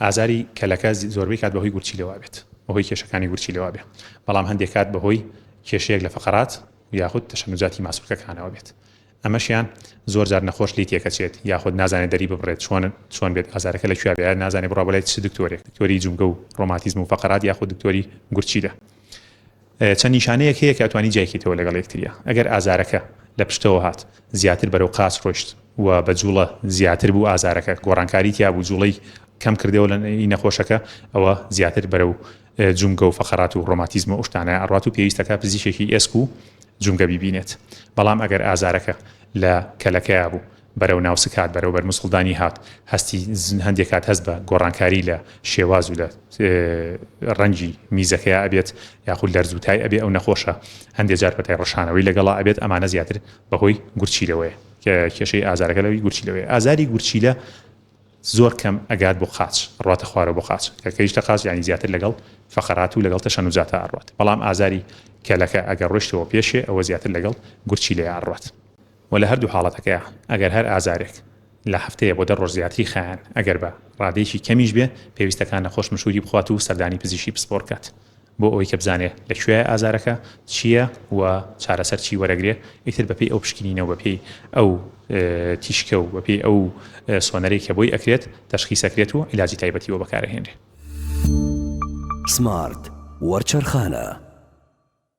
ئازاری کەلەکە زۆربەی کات بەهۆی گورچیلەوە بێت بەهۆی کێشەکانی گورچیلەوە بێت بەڵام هەندێک کات بەهۆی کێشەیەک لە فقرات یاخود تەشەنوجاتی ماسولکەکانەوە بێت ئەمەشیان زۆر جار نەخۆش لی تێکەچێت یاخود نازانێت دەری ببڕێت چۆن چۆن بێت ئازارەکە لە کوێ بێت نازانێت بڕا بڵێت چ دکتۆرێک دکتۆری جومگە و ڕۆماتیزم و فقرات یاخود دکتۆری گورچیلە چەند نیشانەیەک هەیە کە ئەتوانی جیا کەیتەوە لەگەڵ یەکترییە ئەگەر ئازارەکە لە پشتەوە هات زیاتر بەرەو قاچ ڕۆشت و بە جوڵە زیاتر بوو ئازارەکە گۆڕانکاری تیا بوو جوڵەی کەم کردەوە لە ئی نەخۆشەکە ئەوە زیاتر بەرەو جومگە و فەقەرات و ڕۆماتیزم و ئوشتانە ئەڕات و پێویستەکە پزیشێکی ئێسک و جومگە بیبینێت بەڵام ئەگەر ئازارەکە لە کەلەکەیا بوو بەرەو ناو سکهات، بەرەو بەر موسڵدانی هات، هەستی هەندێک کات هەست بە گۆڕانکاری لە شێواز و لە ڕەنگی میزەکەیا ئەبێت یاخود لەرزوتای ئەبێ ئەو نەخۆشە هەندێک جار پەتای ڕشانەوەی لەگەڵا ئەبێت ئەمانە زیاتر بەهۆی گورچیلەوەیە کە کێشەی ئازارەکە لەوی گورچیلەوەی ئازاری گورچیلە زۆر کەم ئەگات بۆ قاچ ڕاتە خوارە بۆ قاچ کە کەیشتە قاچ ینی زیاتر لەگەڵ فقرات و لەگەڵ تەشەن و جاتا ئەڕات بەڵام ئازاری کەلەکە ئەگەر ڕشتەوە پێشێ ئەوە زیاتر لەگەڵ گورچی لێ ئاڕات وە لە هەردوو حاڵەتەکەیا ئەگەر هەر ئازارێک لە هەفتەیە بۆ دە ڕۆژ زیاتری خایەن ئەگەر بە ڕادەیەکی کەمیش بێ پێویستە کە نەخۆش مشوری بخوات و سەردانی پزیشکی پسپۆر بکات بۆ ئەوەی کە بزانێ لە کوێیە ئازارەکە چیە و چارەسەر چی وەرەگرێ ئیتر بە پێی ئەو پشکنینە و بە پێی ئەو تیشکە و بە پێی ئەو سۆنەرەی کە بۆی ئەکرێت تەشخیس ئەکرێت و عیلاجی تایبەتی بۆ بەکارەهێنرێ. سمارت وەرچەرخانە.